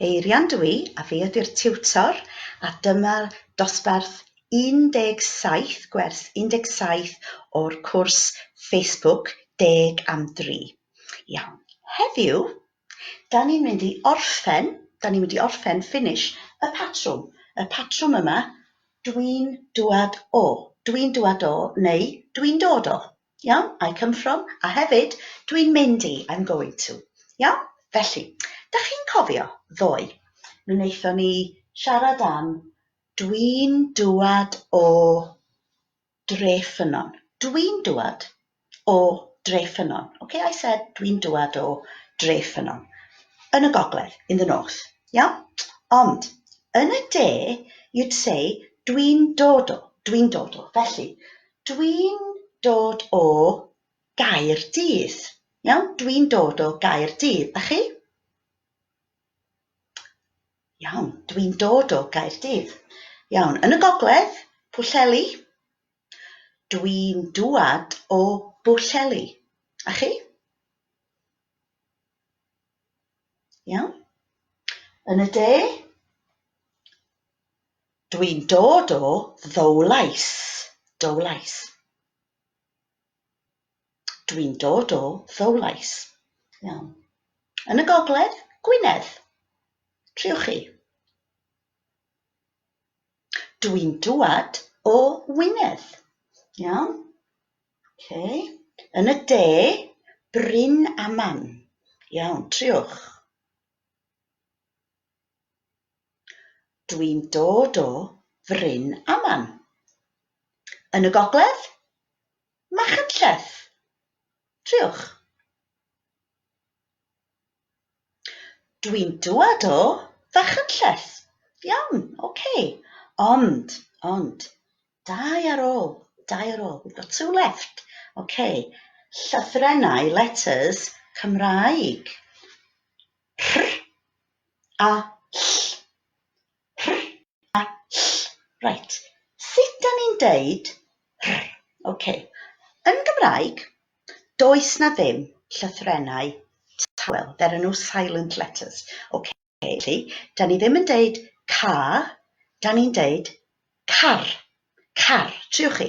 Eirian dw i, a fi ydy'r tiwtor, a dyma dosbarth 17, gwers 17 o'r cwrs Facebook Deg am Dri. Iawn, heddiw, da ni'n mynd i orffen, da ni'n mynd i orffen, finish, y patrwm. Y patrwm yma, dwi'n dŵad o, dwi'n dŵad o, neu dwi'n dod o. Iawn, I come from, a hefyd, dwi'n mynd i, I'm going to. Iawn? Felly, dych chi'n cofio, ddoe, mi wnaethon ni siarad am dwi'n dŵad o dre ffynnon. Dwi'n dŵad o dre ffynnon. Okay, I said dwi'n dŵad o dre ffynnon. Yn y gogledd, in the north. Iawn? Ond, yn y de, you'd say dwi'n dod o, dwi'n dod o. Felly, Dwi'n dod o Gaerdydd. Iawn? Dwi'n dod o Gaerdydd. A chi? Iawn, dwi'n dod o Gaerdydd. Iawn, yn y gogledd, Pwllheli. Dwi'n dŵad o Bwllheli. A chi? Iawn? Yn y de, dwi'n dod o Ddowlais. Dowlais. Dwi'n dod o Ddowlais. Iawn. Yn y gogledd, Gwynedd. Triwch chi. Dwi'n dŵad o Wynedd. Iawn? Yn y de, Bryn Aman. Dwi'n dod o Fryn Aman. Yn y gogledd, Machynlleth. Dwi'n dwad o Fachynlleth. Iawn, ok. Ond, ond, dau ar ôl, dau ar ôl. We've got two left. Ok. Llythrennau, letters, Cymraeg. Rh a ll. Rh a ll. Reit, sut 'da ni'n deud rh? Ok, yn Gymraeg, does 'na ddim llythrennau tawel. There are no silent letters. Ok, felly, 'da ni ddim yn deud ca, 'da ni'n deud car. Car. Triwch chi.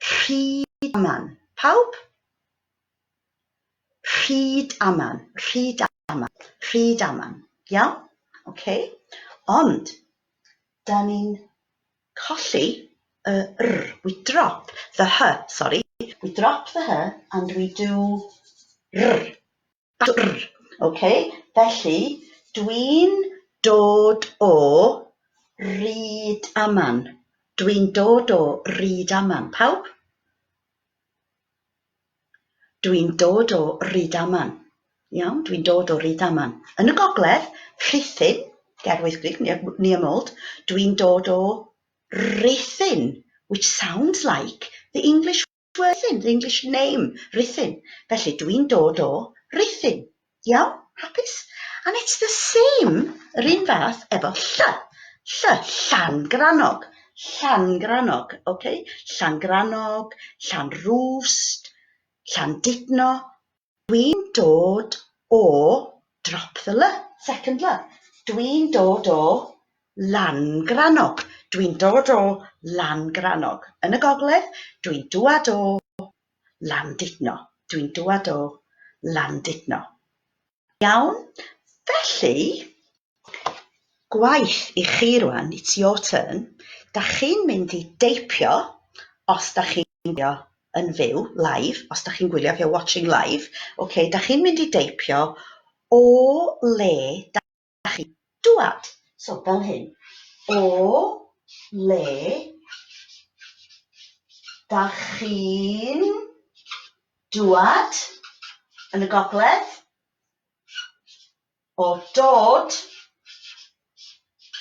Rhyd aman, pawb! Rhyd aman, rhyd aman, rhyd aman. Iawn? OK. Ond, da ni'n colli y r. We drop the h, sorry. We drop the h and we do r. Dwrr! Ok, felly dwi'n dod o Rydaman. Dwi'n dod o Rydaman. Pawb? Dwi'n dod o Rydaman. Iawn, dwi'n dod o Rydaman. Yn y gogledd, Rhuthun, ger Wyddgrug, near Mold. Dwi'n dod o Rhuthun, which sounds like the English Rhuthun, the English name Rhuthun, felly dw i'n dod o Rhuthun. Iawn? Hapus? And it's the same, yr un fath, efo lly. Lly, Llangrannog. Llangrannog, ok? Llangrannog, Llanrwst, Llandudno, Dwi'n dod o, drop the 'l', second 'l'. Dwi'n dod o, Langrannog. Dwi'n dod o, Langrannog. Yn y gogledd, dwi'n dwad o, Landudno. Dwi'n dwad o, Landudno. Iawn? Felly, Gwaith i chi rwan, it's your turn. Dach chi'n mynd i deipio os dach chi'n gwylio yn fyw, live, os dach chi'n gwylio if you're watching live, ok, dach chi'n mynd i deipio o le dach chi'n dŵad. So, fel hyn, o le dach chi'n dŵad yn y gogledd? O dod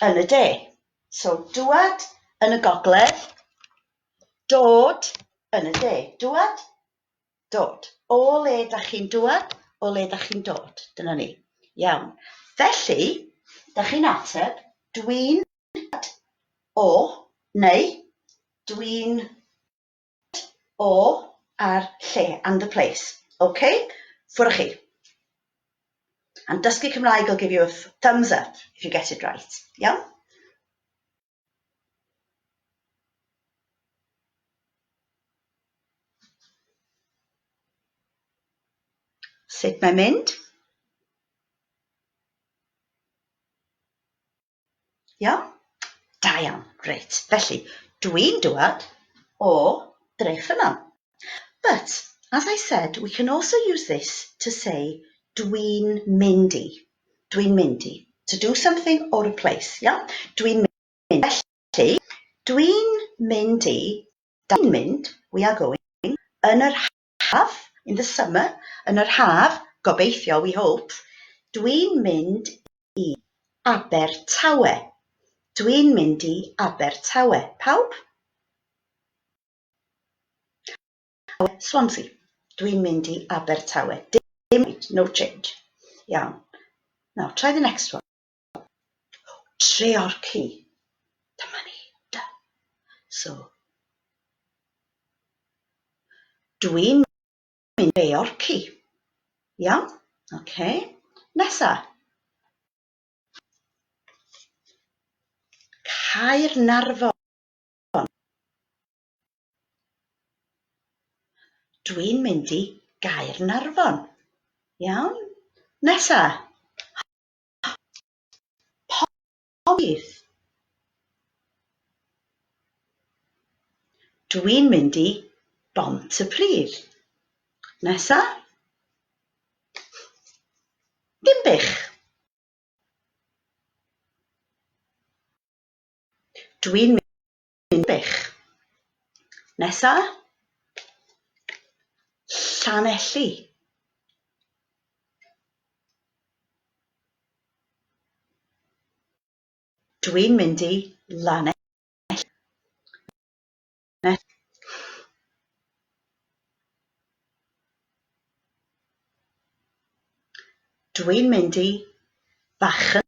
yn y de. So, dŵad yn y gogledd, dod yn y de. Dŵad, dod. O le da chi'n dŵad, o le da chi'n dod. Dyna ni. Iawn. Felly, da chi'n ateb, dwi'n dŵad o, neu dwi'n Get o a'r lle and the place. Ok? Ffwr a chi. And dysgu Cymraeg will give you a thumbs up if you get it right. Iawn? Sut mae'n mynd? Iawn? Da iawn. Reit, felly, dwi'n dŵad o Drechymam. But, as I said, we can also use this to say dwi'n mynd i. Dwi'n mynd i. To do something or a place, iawn? Dwi'n mynd i. Felly, dwi'n mynd i, da ni'n mynd, we are going, yn yr haf. Haf, in the summer, yn yr haf, gobeithio, we hope, Dwi'n mynd i Abertawe. Dwi'n mynd i Abertawe. Pawb? Swansea. Dwi'n mynd i Abertawe. Dim, no change. Iawn. Now, try the next one. Treorci. Dyma ni. Da. So. Dwi'n mynd Treorci. Iawn? OK. Nesa. Caernarfon. Dwi'n mynd i Gaernarfon. Iawn? Nesa. Pogis! Dwi'n mynd i Bont-y-pridd. Nesa? Dinbych! Dwi'n Yn wych. Nesa. Llanelli. Dwi'n mynd i Lanelli. Dwi'n mynd i Fachynlleth.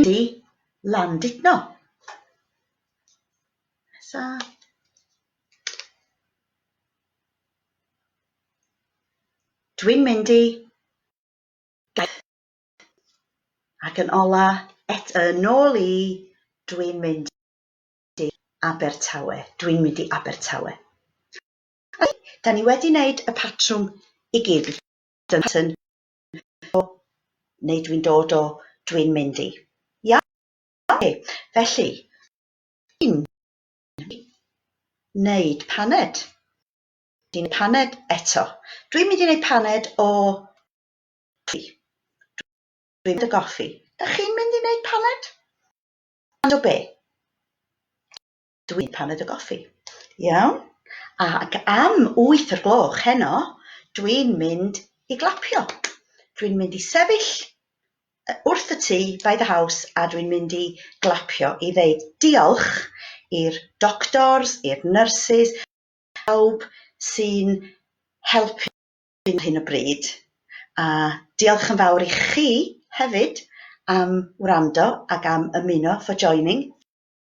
Ydy, Landudno. Nesa. Dwi'n mynd i gaeth. Ac yn ola, et yn ôl i, dwi'n mynd i Abertawe. Dwi'n mynd i Abertawe. Da ni wedi wneud y patrwm i gyd. Dyna o neu dwi'n dod o, dwi'n mynd i. Iawn, oce, felly, dwi'n wneud paned. Dwi'n wneud paned eto. Dwi'n mynd i wneud paned o goffi. Dwi'n mynd o goffi. Da chi'n mynd i wneud paned? Paned o be? dwi'n paned o goffi. Iawn? Ac am wyth o'r gloch heno, dwi'n mynd i glapio. Dwi'n mynd i sefyll wrth y tŷ, by the house, a dwi'n mynd i glapio i ddeud diolch i'r doctors, i'r nurses, pawb sy'n helpu ar hyn o bryd. A diolch yn fawr i chi hefyd am wrando ac am ymuno for joining.